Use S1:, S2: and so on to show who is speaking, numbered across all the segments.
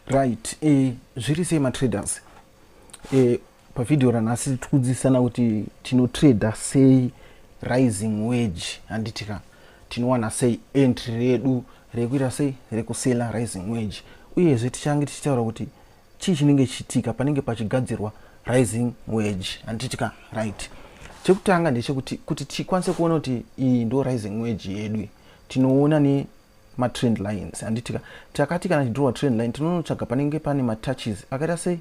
S1: right eh, zviri sei matraders eh, pavhidhiyo ranhasi tiri kudzidzisana kuti tinotrader sei rising wage handiti ka tinowana sei entry redu rekuita sei rekusela rising wage uyezve tichange tichitaura kuti chii chinenge chichitika panenge pachigadzirwa rising wage handiti ka right chekutanga ndechekuti kuti tikwanise kuona kuti iyi ndo rising wage yedu tinoona ne matrend lines handitika takati kana tichidrowa trend line tinonotsvaga panenge pane matouches akaita sei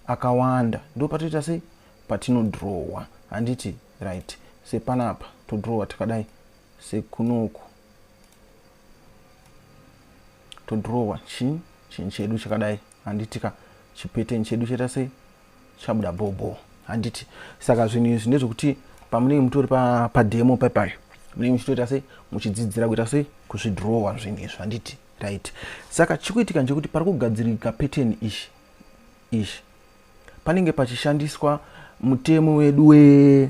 S1: akawanda ndo patoita sei patinodrowa handiti right sepanapa todrowa takadai sekunoku todrowa chin chin chedu chakadai handiti ka chipeteni chedu chaita sei chabuda bhobho handiti saka zvinhu izvi ndezvekuti pamunenge mutori pademo pa papayo munenge muchitoita sei muchidzidzira kuita sei kuzvidrowa zvinhu izvi handiti right saka chikuitika ndechekuti pari kugadzirika peteni ichi ichi panenge pachishandiswa mutemo wedu we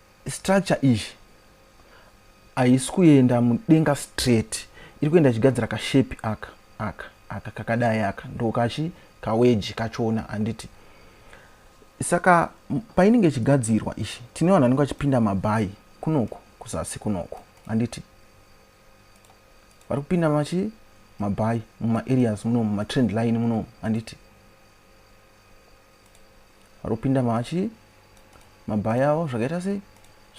S1: Structure iyi haisi kuenda mudenga straight iri kuenda ichigadzira kashepi aka aka aka kakadai aka ndokachi kaweji kachona handiti saka painenge ichigadzirwa ichi tine vanhu vanenge vachipinda mabhayi kunoku kuzasi kunoku handiti vari kupinda machi mabhayi mumaareas muno mumatrend line muno handiti arikupinda machi mabhayawo zvakaita sei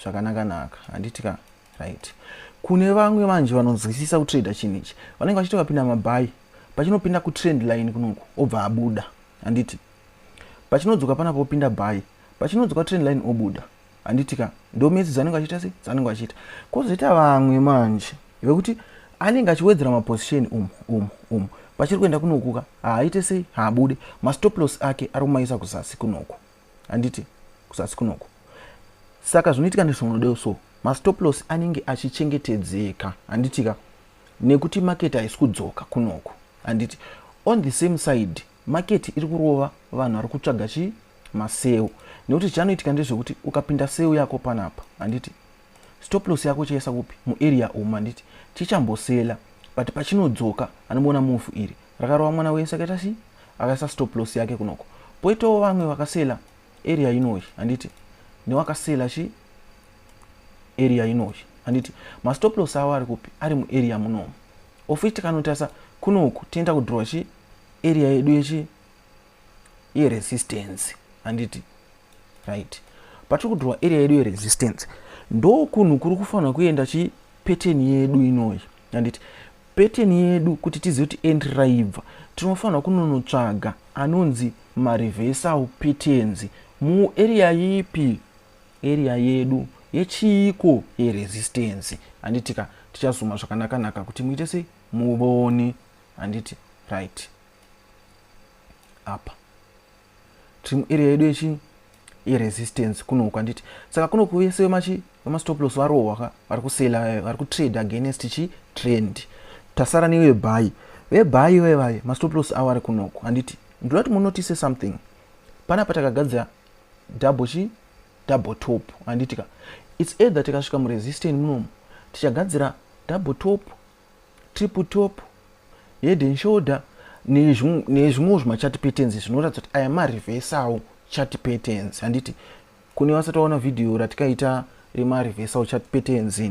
S1: zvakanaka naka handiti ka right kune vamwe vanji vanonzwisisa kutrader chinhu ichi vanenge vachiti vapinda mabhayi pachinopinda kutrend line kunoku obva abuda handiti pachinodzoka pana popinda bhayi pachinodzoka trend line obuda handiti ka ndo metsi dzanenge achiita sei dzanenge achiita kozoita vamwe manje vekuti anenge achiwedzera maposition umu umu umu pachiri kuenda kunokuka haaite sei haabude mastoplos ake ari kumaisa kuzasi kunoku handiti kuzasi kunoku saka zvinoitika nezvaunodeo so mastoplos anenge achichengetedzeka handitika nekuti maketi haisi kudzoka kunoku handiti on the same side Market iri kurova vanhu vari kutsvaga chi maseu nekuti chanoitika ndezvekuti ukapinda seu yako panapa handiti stop loss yako chaisa kupi muarea umu handiti chichambosela but pachinodzoka anomuona move iri rakarova mwana wenyu saka ita si akaisa stop loss yake kunoko poitawo vamwe vakasela area inoyi handiti newakasela chi area inoyi handiti mastop loss avo ari kupi ari muarea munomu of which tikanotarisa kuno uku tinoita kudhirwa chi area yedu yechi yeresistance handiti right patiri kudhirwa area yedu yeresistance ndo kunhu kuri kufanira kuenda chi pattern yedu inoyi handiti pattern yedu kuti tizive kuti entry raibva tinofanira kunonotsvaga anonzi mareversal patterns muarea yipi Area yedu yechiiko ye resistance handiti ka tichazuma zvakanaka naka kuti muite sei muvone handiti right apa tiri muarea yedu yechi yeresistance kuno uku handiti saka kuno uku vese vemachi vemastop loss varohwa ka vari kusela vari kutrade against chi trend tasara nevebhayi vebhayi vevaye mastop loss avo ari kuno uku handiti ndoda kuti munotise something panapa takagadzira double chi double top handiti ka its either tikasvika muresistan munomu tichagadzira double top triple top head and shoulder nezvimwewo zvimachati patterns zvinoratidza kuti aya marevesawo chati patterns handiti kune vasati vaona vhidhiyo ratikaita remarevesawo chati patterns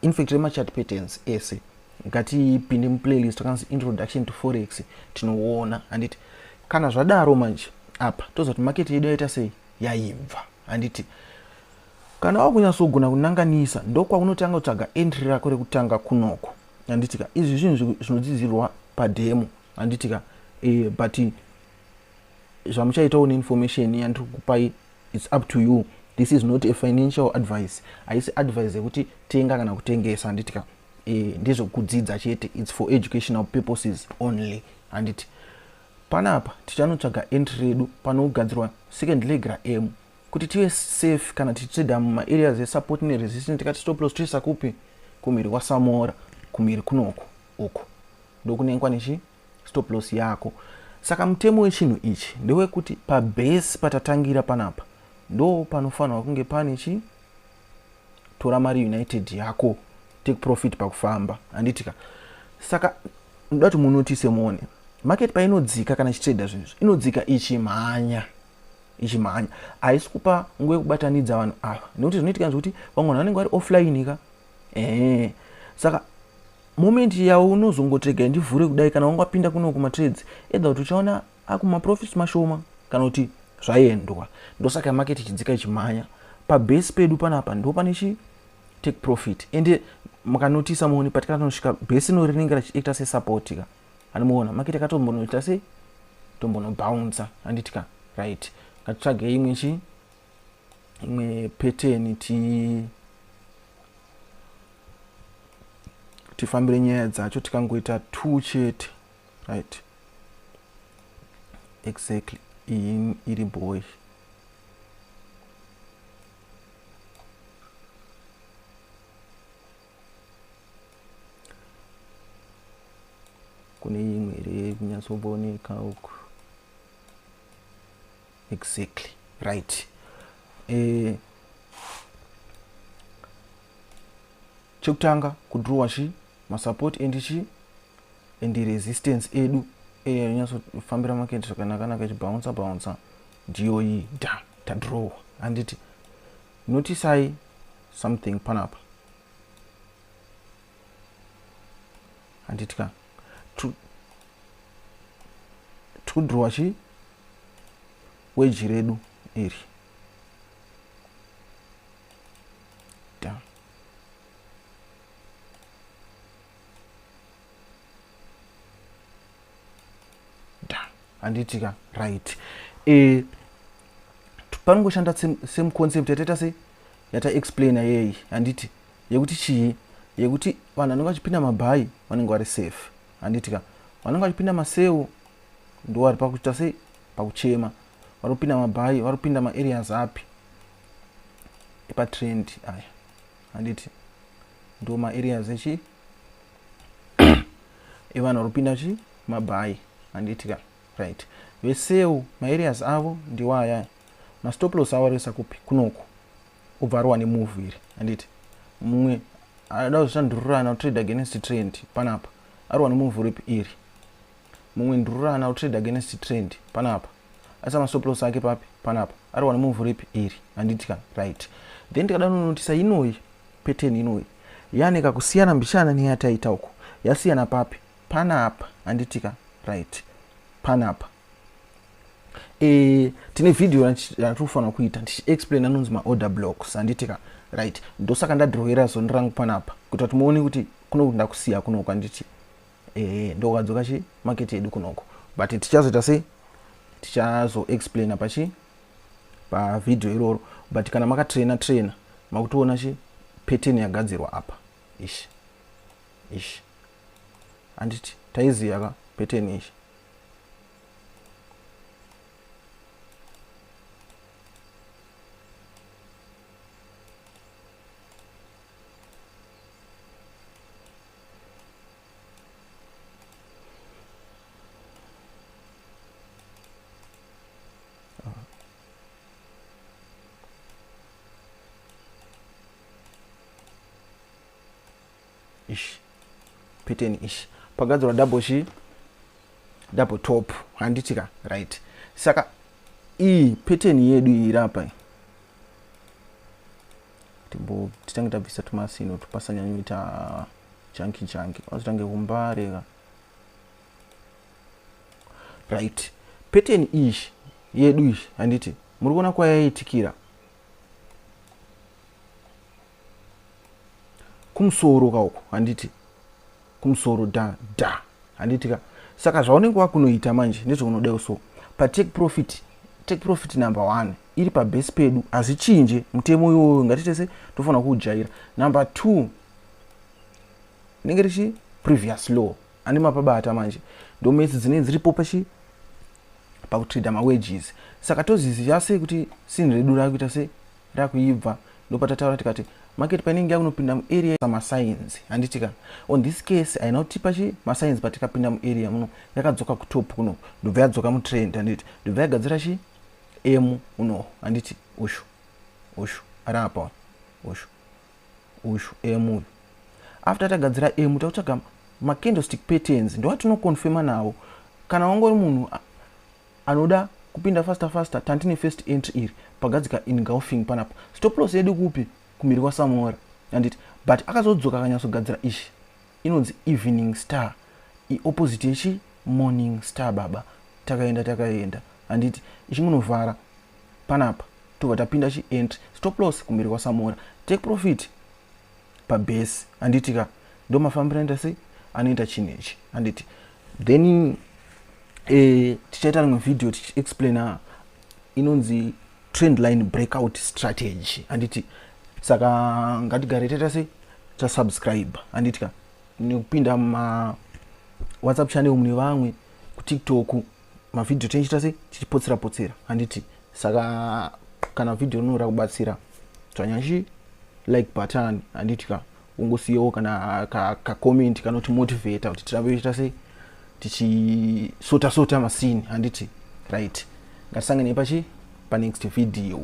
S1: infact remachati patterns ese ngatipinde muplaylist akanzi introduction to forex tinoona handiti kana zvadaro manje apa toziva kuti maketi yedu yaita sei yaibva handiti kana wakunyatsogona kunanganisa ndokwaunotange kutsvaga entry rako rekutanga kunoko handitika izvi zvinhu zvinodzidzirwa pademo handitika e, eh, but zvamuchaitawo neinformation yandiri kukupai its up to you this is not a financial advice haisi advice yekuti tenga kana kutengesa handitika eh, ndezvekudzidza chete its for educational purposes only handiti panapa tichanotsvaga entry redu panogadzirwa second leg raemu kuti tive safe kana tichitsveda mumaareas esupport neresistance tikati stop loss toisa kupi kumhiri kwasamora kumhiri kunoku uku ndokunengwa nechi stop loss yako saka mutemo wechinhu ichi ndewekuti pabase patatangira panapa ndo panofanirwa kunge pane chi tora mari united yako take profit pakufamba handitika saka ndoda kuti munotise muone market painodzika kana chitrader zvinhu izvi inodzika ichimhanya ichimhanya haisi kupa nguva yekubatanidza vanhu ava nekuti zvinoitika zvekuti vamwe vanhu vanenge vari offline ka ee saka moment yavo unozongotrega ndivhure kudai kana wangapinda kuno kumatrades edha kuti uchaona akumaprofits mashoma kana kuti zvaendwa ndosaka market ichidzika ichimhanya pabase pedu panapa ndo pane chi take profit ende makanotisa muone patikana tinosvika base ino rinenge rachiita sesupport ka anomuona market akatombonoita se tombonobouncer handiti ka right ngatitsvage imwe chi imwe pattern ti tifambire nyaya dzacho tikangoita two chete right exactly iyi iri boy kune imwe here kunyatsooneka uku exactly right eh, chekutanga kudrowa chi masupport endi chi and resistance edu area rinyatsofambira market zvakanakanaka ichibouncer bouncer ndiyo iyi da tadrowa handiti notisai something panapa handiti ka tikudrowa chi weji redu iri handiti ka right e, panongoshanda same concept yataita se yataexplaina yeyi handiti yekuti chii yekuti vanhu vanenge vachipinda mabhayi vanenge vari safe handiti ka vanenge vachipinda masewo ndovari pakuita sei pakuchema vari kupinda mabhayi vari kupinda maareas api epatrend aya handiti ndo maareas echi evanhu vari kupinda chi mabhayi handiti ka right vesewo maareas avo ndiwo aya mastoplos avo arikuisa kupi kunoko obva arowa nemove iri handiti mumwe ada kuzvishandururana kutrade against trend panapa arowa nemove ripi iri mumwe ndururana kutrade against trend panapa Asi amasoplos ake papi panapa ari wana move ripi iri handiti kana right then tikadanonotisa inoyi pattern inoyi yane kakusiyana mbishana neyataita uko yasiyana papi panapa handiti kana right panapa e, tine video yatiri kufanira kuita ndichiexplain anonzi maorder blocks handiti kana right ndosaka ndadrowera zoni rangu panapa kuita kuti muone kuti kunokuti ndakusiya kunoku handiti ehe ndokadzoka chi market yedu kunoko but tichazoita sei tichazoexplaina pachi pavideo iroro but kana makatraina traina makutoona chi pattern yagadzirwa apa ishi ishi handiti taiziva ka pattern ishi ish pattern ish pagadzirwa double shi double top handitika right saka iyi pattern yedu iri apa timbo titange tabvisa tumasino tupasanyanyoita janki janki azotange kumbareka right pattern iyi yedu iyi handiti muri kuona kwayaitikira kumusoro kauko handiti kumusoro da da handitika saka zvaunenge wakunoita manje ndezvaunoda so patake profit take profit number one iri pabhesi pedu hazvichinje mutemo iwoyo ngati tese tofanira kuujaira number two rinenge richi previous law ane mapabata manje ndomates dzinenge dziripo pachi pakutrida mawages saka toziziva sei kuti sin redu rakuita se rakuibva ndopatataura tikati market painenge yakunopinda muarea samasainzi handitika on this case haina kutipa chi masainzi patikapinda muarea muno yakadzoka kutop kuno ndobva yadzoka mutrend handiti ndobva yagadzira chi emu unoho handiti ushu ushu ari apa ushu ushu emu uyu after tagadzira emu takutsvaga macandlestick patterns ndowatinoconfirma nawo kana wangori munhu anoda kupinda faster faster tantine first entry iri pagadzika ingulfing panapa stop loss yedu kupi kumhiri kwasamora handiti but akazodzoka akanyatsogadzira ichi Inonzi evening star i opposite yechi morning star baba takaenda takaenda handiti ichingunovhara panapa tobva tapinda chi entry stop loss kumberi kwa samora take profit pa base handiti ka ndomafambira anoita sei anoita chinhu ichi handiti then eh, tichaita rimwe video tichi explaina inonzi trend line breakout strategy handiti saka ngatigare taita sei tasubscribe handiti ka nekupinda ma whatsapp channel mune vamwe kutiktok mavhidhiyo tinochita se tichipotsera potsera handiti saka kana vhidhiyo rinoda kubatsira tswanyashi like button handiti ka ungosiyawo kana kacomment ka kanoti motivata kuti tirambe tichita se tichisota sota masini handiti right ngatisanganei pachi panext vhidhiyo